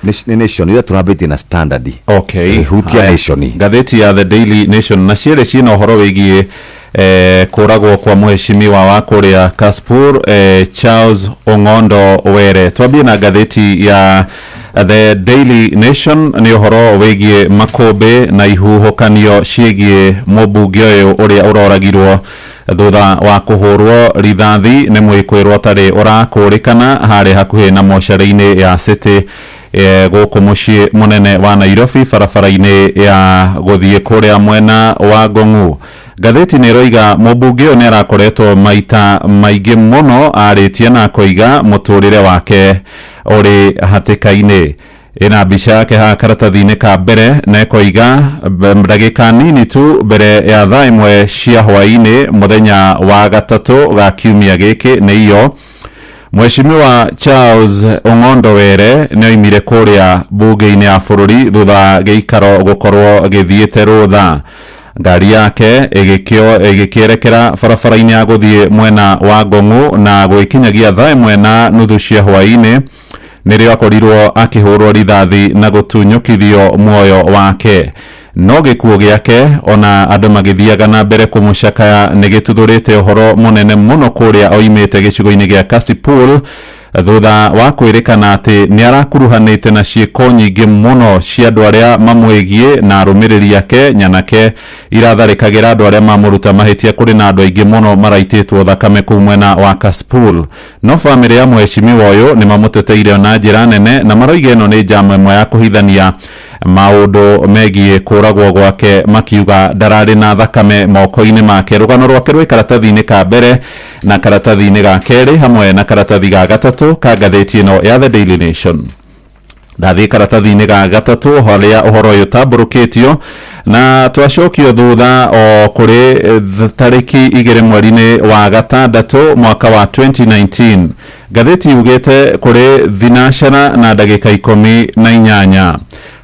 Nĩ- nĩ nation iria tũrambĩtie na standard Okay. Eh, hutia Haya. nation Ngathĩti ya The Daily Nation na cierĩ ciĩna ũhoro wĩgiĩ eh, kũragwo kwa mũheshimiwa wa kũrĩa Kaspur eh, Charles Ong'ondo Were. Twambie na ngathĩti ya The Daily Nation nĩ ũhoro wĩgiĩ makũmbĩ na ihuhũkanio ciĩgiĩ mũmbunge ũyũ ũrĩa ũroragirwo Thutha wa kũhũrwo rithathi nĩ mũĩkũĩrwo ũtarĩ ũrakũrĩkana harĩ hakuhĩ na mocarĩ-inĩ ya City gũkũ mũciĩ mũnene wa Nairobi barabara-inĩ ya gũthiĩ kũrĩa mwena wa Ngong'u. Ngathĩti nĩ ĩroiga mũmbunge ũyũ nĩ arakoretwo maita maingĩ mũno arĩtie na akoiga mũtũrĩre wake ũrĩ hatĩka-inĩ. ĩna mbica yake haha karatathi-inĩ ka mbere na ĩkoiga "Mbe- ndagĩka nini tu mbere ya thaa ĩmwe cia hwaĩ-inĩ mũthenya wa gatatũ ga kiumia gĩkĩ nĩ iyo Mheshimiwa Charles Ong'ondo Were nĩ oimire kũrĩa mbunge-inĩ ya bũrũri thutha wa gĩikaro gũkorwo gĩthiĩte rũtha ngari yake ĩgĩkĩo- ĩgĩkĩerekera barabara-inĩ ya gũthiĩ mwena wa Ngong'u na gwĩkinyagia thaa ĩmwe na nuthu cia hwaĩ-inĩ nĩrĩo akorirwo akĩhũrwo rithathi na gũtunyũkithio muoyo wake no gĩkuũ gĩake ona andũ magĩthiaga na mbere kũmũcakaya nĩ gĩtuthũrĩte ũhoro mũnene mũno kũrĩa oimĩte gĩcigo-inĩ gĩa Kasipul thutha wa kwĩrĩkana atĩ nĩ arakuruhanĩte na ciĩko nyingĩ mũno cia andũ arĩa mamwĩgiĩ na arũmĩrĩri ake nyanake iratharĩkagĩra andũ arĩa mamũruta mahĩtia kũrĩ na andũ aingĩ mũno maraitĩtwo thakame kũu mwena wa Kasipul No famĩlĩ ya mũhecimiwa ũyũ nĩmamũteteire ona njĩra nene na maroiga ĩno nĩ njama ĩmwe ya kũhithania maũndũ megiĩ kũragwo gwake makiuga ndararĩ na thakame moko-inĩ make. Rũgano rwake rwĩ karatathi-inĩ ka mbere na karatathi-inĩ ga kerĩ hamwe na karatathi ga gatatũ ka ngathĩti ĩno ya The Daily Nation. ndathiĩ karatathi-inĩ ga gatatũ harĩa ũhoro ũyũ ũtambũrũkĩtio na twacokio thutha o kũrĩ eh, th- tarĩki igĩrĩ mweri-inĩ wa gatandatũ mwaka wa 2019 ngathĩti yugĩte kũrĩ thinacera na ndagĩka ikũmi na inyanya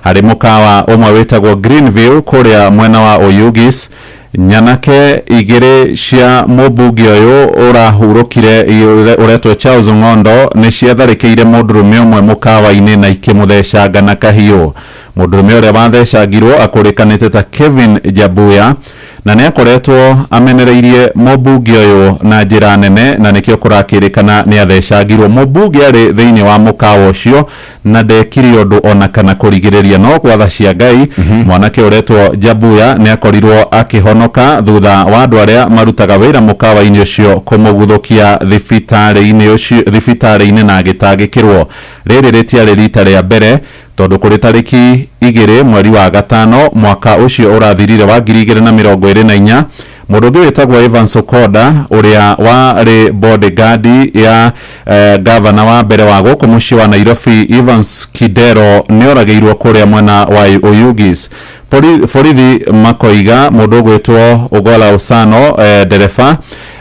harĩ mũkawa ũmwe wĩtagwo greenville kũrĩa mwena wa oyugis Nyanake igĩrĩ cia mũmbunge ũyũ ũrahurũkire ũretwo Charles Ong'ondo nĩ ciatharĩkĩire mũndũrũme ũmwe mũkawa-inĩ na ikĩmũthecanga na kahiũ. Mũndũrũme ũrĩa wathecangirwo akũrĩkanĩte ta Kevin Jabuya na nĩ akoretwo amenereirie mũmbunge ũyũ na njĩra nene na nĩkĩo kũrakĩrĩkana nĩ athecangirwo. Mũmbunge arĩ thĩinĩ wa mũkawa ũcio na ndekire ũndũ o na kana kũrigĩrĩria. No gwa tha cia Ngai, mwanake ũretwo Jabuya nĩ akorirũo akĩhonoka thutha wa andũ arĩa marutaga wĩra mũkawa-inĩ ũcio kũmũguthũkia thibitarĩ-inĩ ũcio, thibitarĩ-inĩ na agĩtangĩkĩrũo. Rĩrĩ rĩtiarĩ riita rĩa mbere, tondũ kũrĩ tarĩki igĩrĩ mweri wa gatano mwaka ũcio ũrathirire wa ngiri igĩrĩ na mĩrongo ĩrĩ na inya, Mũndũ ũngĩ wĩtagwo Evans Okoda ũrĩa warĩ bodyguard ya eh, gavana wa mbere wa gũkũ mũciĩ wa Nairobi Evans Kidero nĩoragĩirwo kũrĩa mwena wa Oyugis. Bori- Borithi makoiga mũndũ ũgwĩtwo Ogola Osano eh, ndereba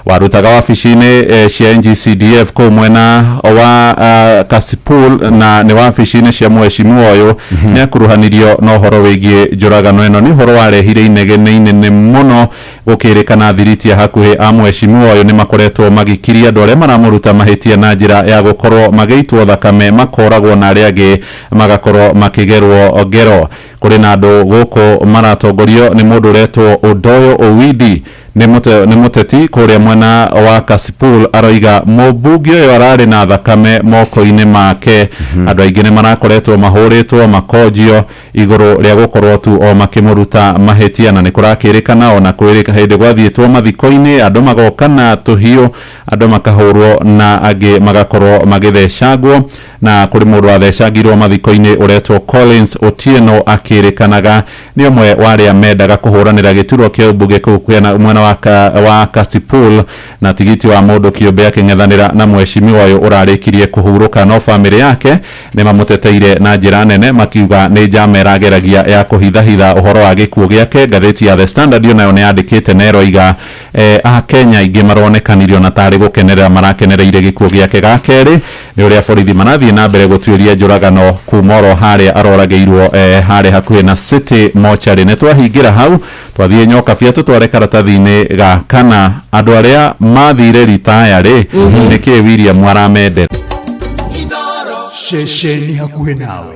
warutaga wabici-inĩ eh, cia NGCDF kũu mwena wa ah, Kasipul na nĩ wabici-inĩ cia Mheshimiwa ũyũ nĩ akuruhanirio na ũhoro wĩgiĩ njũragano ĩno nĩ ũhoro warehire inegene inene mũno gũkĩrĩkana athiriti a hakuhĩ a mwecimiwa ũyũ nĩ makoretwo magikiria andũ arĩa maramũruta mahĩtia na njĩra ya gũkorwo magĩitwo thakame makoragwo na arĩa angĩ magakorwo makĩgerwo ngero kũrĩ na andũ gũkũ maratongorio nĩ mũndũ ũretwo Odoyo Owidi Nĩ mũte, nĩ mũteti kũrĩa mwena wa Kasipul aroiga mũmbunge ũyũ ararĩ na thakame moko-inĩ make. Andũ aingĩ nĩ marakoretwo mahũrĩtwo makonjio igũrũ rĩa gũkorwo tu o makĩmũruta mahĩtia, na nĩ kũrakĩrĩkana ona kwĩ hĩndĩ gwathiĩtwo mathiko-inĩ andũ magoka na tũhiũ, andũ makahũrwo na angĩ magakorwo magĩthecangwo, na kũrĩ mũndũ wathecangirwo mathiko-inĩ ũretwo Collins Otieno akĩrĩkanaga Nĩ ũmwe wa arĩa mendaga kũhũranĩra gĩturwa kĩa ũmbunge kũu Kwena mwena wa wa Kasipul na tigiti wa mũndũ kĩũmbe akĩng'ethanĩra na mwecimiwa ũyũ ũrarĩkirie kũhurũka no bamĩrĩ yake nĩmamũteteire na njĩra nene makiuga nĩ njama ĩrageragia ya kũhithahitha ũhoro wa gĩkuũ gĩake. Ngathĩti ya The Standard onayo nĩyandĩkĩte na ĩroiga Eeh Akenya aingĩ maronekanirio na tarĩ gũkenerera marakenereire gĩkuo gĩake ga kerĩ nĩ ũrĩa borithi marathiĩ na mbere gũtuĩria njũragano kuma oro harĩa aroragĩirwo eeh harĩ hakuhĩ na City Mortuary. Nĩ twahingĩra hau twathiĩ Nyokabia tũtware karatathi-inĩ ga kana, andũ arĩa mathire ritaya rĩ nĩkĩĩ William aramendera? Ceceni hakuhĩ nawe.